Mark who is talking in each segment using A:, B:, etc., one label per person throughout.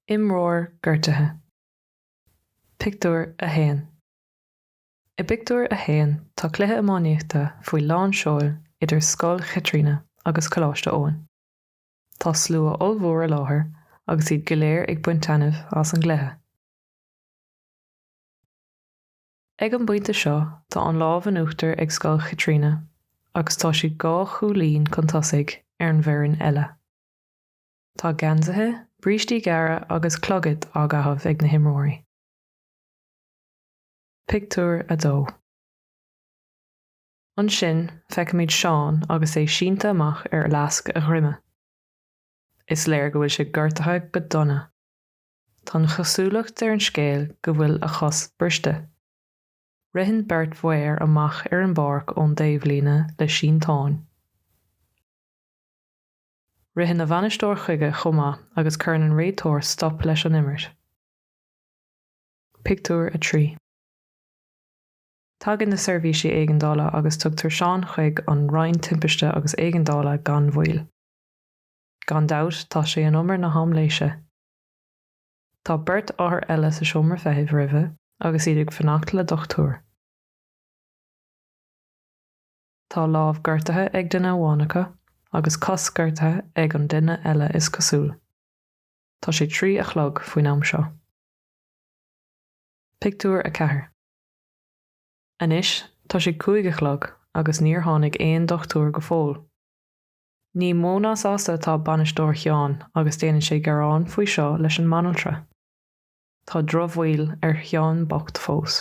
A: Imreoir gortaithe. Pictiúr 1 I bpictiúr a haon tá cluiche iománaíochta faoi lán seoil idir Scoil Chaitríona agus Coláiste Eoin. Tá slua ollmhór i láthair agus iad go léir ag baint taitneamh as an gcluiche. Ag an bpointe seo tá an lámh in uachtar ag scoil Chaitríona agus tá siad dhá chúilín chun tosaigh ar an bhfoireann eile. Tá geansaithe, brístí gearra agus clogaid á gcaitheamh ag na himreoirí. Pictiúr 2 Ansin feicimid Seán agus é sínte amach ar fhleasc a dhroime. Is léir go bhfuil sé gortaithe go dona. Tá an chosúlacht ar an scéal go bhfuil a chos briste. Ritheann beirt mhaor amach ar an bpáirc ón dtaobhlíne le sínteán. Ritheann a bhainisteoir chuige chomh maith agus cuireann an réiteoir stop leis an imirt. Pictiúr 3. Tagann na seirbhísí éigeandála agus tugtar Seán chuig an Roinn Timpiste agus Éigeandála gan mhoill. Gan dabht tá sé in umar na haimléise. Tá beirt othar eile sa seomra feithimh roimhe agus iad ag fanacht le dochtúir. Tá lámh gortaithe ag duine amháin acu agus cos gortaithe ag an duine eile is cosúil. Tá sé trí a chlog faoin am seo. Pictiúr 4 Anois tá sé cúig a chlog agus níor tháinig aon dochtúir go fóill. Ní mó ná sásta atá bainisteoir Sheáin agus déanann sé gearán faoi seo leis an mbanaltra. Tá drochbhail ar Sheán bocht fós.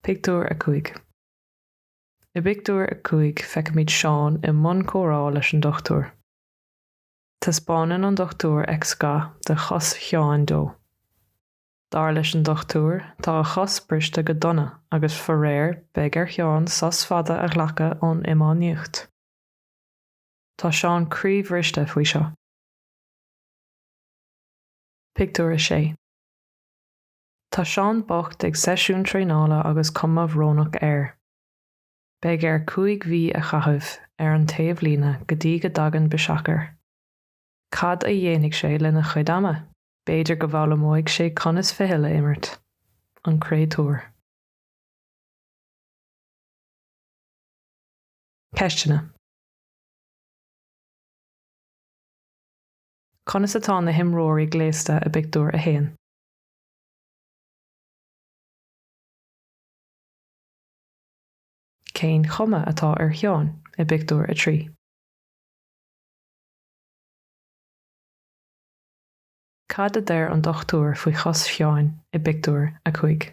A: Pictiúr 5 I bpictiúr a cúig feicimid Seán i mbun comhrá leis an dochtúir. Taispeánann an dochtúir x-gha de chos Sheáin dó. Dar leis an dochtúir, tá a chos briste go dona agus faraor beidh ar Sheán sos fada a ghlacadh ón iománaíocht. Tá Seán croíbhriste faoi seo. Pictiúr 6 Tá Seán bocht ag seisiún traenála agus cuma bhrónach air. Beidh air cúig mhí a chaitheamh ar an taobhlíne go dtí go dtagann biseach air. Cad a dhéanfaidh sé lena chuid ama? B'fhéidir go bhfoghlaimeoidh sé conas ficheall a imirt, an créatúr. Ceisteanna, Conas atá na himreoirí gléasta i bpictiúr a haon? Cén chuma atá ar Sheán i bpictiúr a trí? Cad a deir an dochtúir faoi chos Sheáin i bpictiúr a cúig?